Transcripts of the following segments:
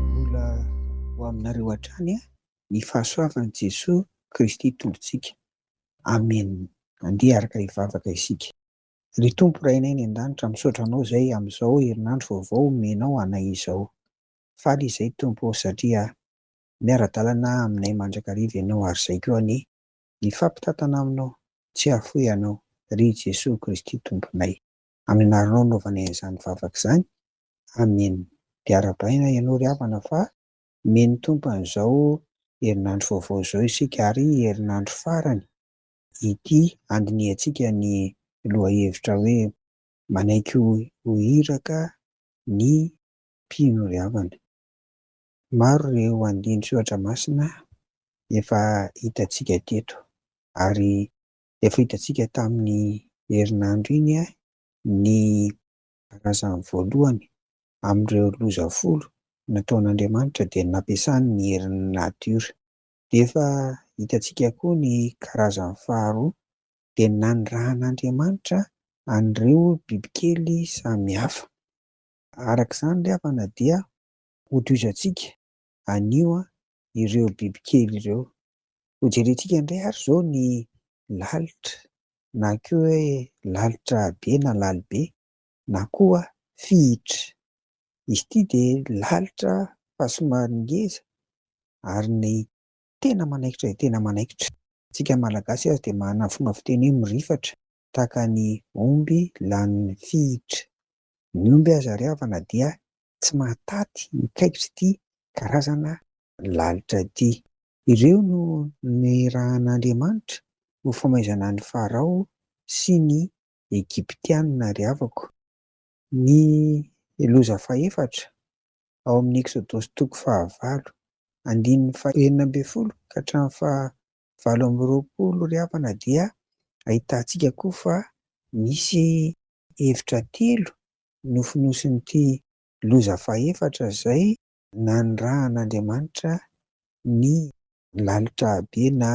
Mbola ho aminareo hatrany ny fahasoavan'i Jesoa Kristy Tompontsika. Amen. Andeha araka hivavaka isika. Ry Tompo Rainay any An-danitra, misaotra Anao izay amin'izao herinandro vaovao omenao anay izao. Faly izay Tompo ô satria miara-dalana aminay mandrakariva Ianao ary izay koa anie. Mifampitantana aminao, tsy hahafoy anao, ry Jesoa Kristy Tomponay. Amin'Arinao anaovana izany vavaka izany. Amen. Dia arahabaina ianao ry havana fa omen' ny Tompo an'izao herinandro vaovao izao isika ary herinandro farany ity handinihantsika ny lohahevitra hoe Manaiky ho Iraka ny Mpino ry havana. Maro ireo andinin-tsoratra masina efa hitantsika teto, ary efa hitantsika tamin'ny herinandro iny ny razany voalohany amin'ireo loza folo nataon'Andriamanitra dia nampiasany ny herin'ny natiora. Dia efa hitantsika koa ny karazany faharoa, dia nanirahan'Andriamanitra an'ireo bibikely samihafa. Araka izany ry havana dia hotohizantsika anio ireo bibikely ireo. Hojerentsika indray ary izao ny lalitra na koa hoe lalitra be na lalibe na koa fihitra. Izy ity dia lalitra fa somary ngeza ary ny tena manaikitra dia tena manaikitra. Isika Malagasy aza dia manana fomba fiteny hoe mirifatra tahaka ny omby lanin'ny fihitra. Ny omby aza ry havana dia tsy mahataty mikaikitra ity karazana lalitra ity. Ireo no nirahan'Andriamanitra ho famaizana an'i Farao sy ny Egyptiana ry havako. Ny loza fahefatra, ao amin'ny Eksodosy toko fahavalo, andininy fahenina ambin'ny folo ka hatramin'ny fahavalo amby roapolo ry havana dia ahitantsika koa fa misy hevitra telo nofonosin'ity loza fahefatra izay nanirahan'Andriamanitra ny lalitra be na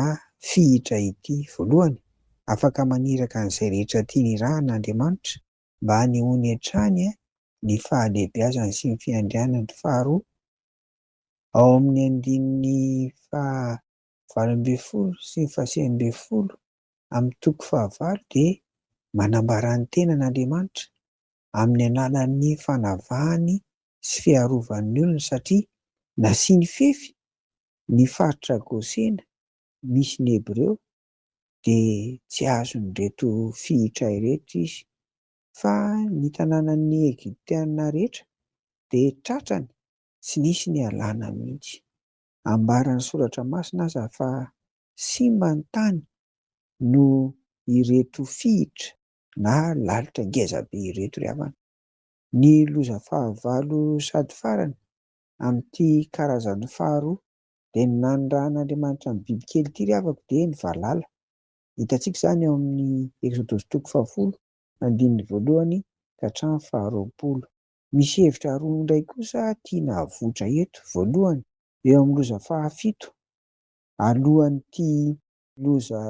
fihitra ity. Voalohany, afaka maniraka an'izay rehetra tiany irahana Andriamanitra mba hanehoany hatrany ny fahalehibiazany sy ny fiandrianany. Faharoa, ao amin'ny andininy faha valo ambin'ny folo sy ny fahasivy ambin'ny folo amin'ny toko fahavalo dia manambara ny tenany Andriamanitra amin'ny alalan'ny fanavahany sy fiarovany ny olony satria nasiany fefy ny faritra Gosena misy ny Hebreo dia tsy azon'ireto fihitra ireto izy fa ny tanànan'ny Egyptiana rehetra dia tratrany tsy nisy nialana mihitsy. Ambaran'ny soratra masina aza fa simba ny tany noho ireto fihitra na lalitra ngeza be ireto ry havana. Ny loza fahavalo sady farany amin'ity karazany faharoa dia ny nanirahan'Andriamanitra ny bibikely ity ry havako dia ny valala. Hitantsika izany ao amin'ny Eksodosy toko fahafolo andininy voalohany ka hatramin'ny faharoapolo. Misy hevitra roa indray kosa tiana avoitra eto. Voalohany, eo amin'ny loza fahafito, alohan'ity loza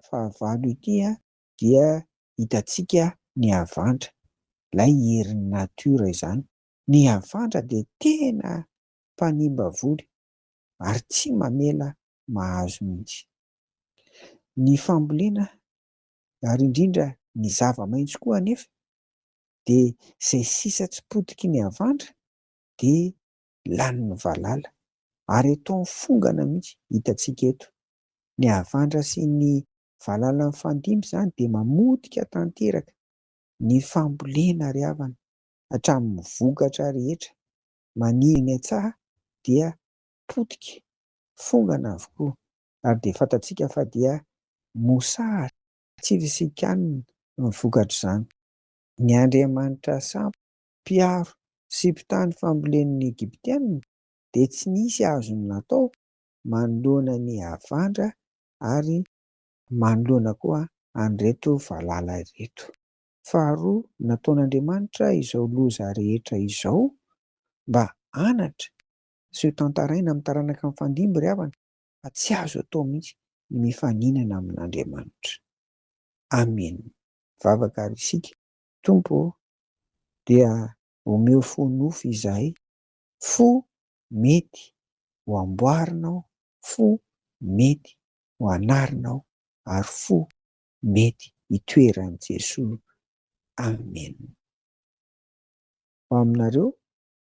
fahavalo ity, dia hitantsika ny havandra, ilay herin'ny natiora izany. Ny havandra dia tena mpanimba voly ary tsy mamela mahazo mihitsy. Ny fambolena ary indrindra ny zava-maitso koa anefa de zay sisa tsy potiky ny avandra de lanin'ny valala, ary eto am fongana mihitsy hitantsika eto, ny avandra sy ny valala mifandimby zany de mamotika tanteraka ny fambolena ry havana hatramin'ny vokatra rehetra maniry eny an-tsaha dia potika, fongana avokoa, ary de fantatsika fa dia mosary. Tsy fisikanina no vokatr'izany. Ny andriamanitra sambo, mpiaro sy mpitaha ny fambolen'ny Egyptiana, dia tsy nisy azony natao manoloana ny havandra ary manoloana koa an'ireto valala ireto. Faharoa, nataon'Andriamanitra izao loza rehetra izao mba hanatra sy ho tantaraina amin'ny taranaka mifandimby ry havana, fa tsy azo atao mihitsy ny mifaninana amin'Andriamanitra. Amen! Mivavaka ary isika, Tompo ô, dia omeo fo nofy izahay, fo mety ho amboarinao, fo mety ho anarinao, ary fo mety hitoeran'i Jesoa. Amen! Ho aminareo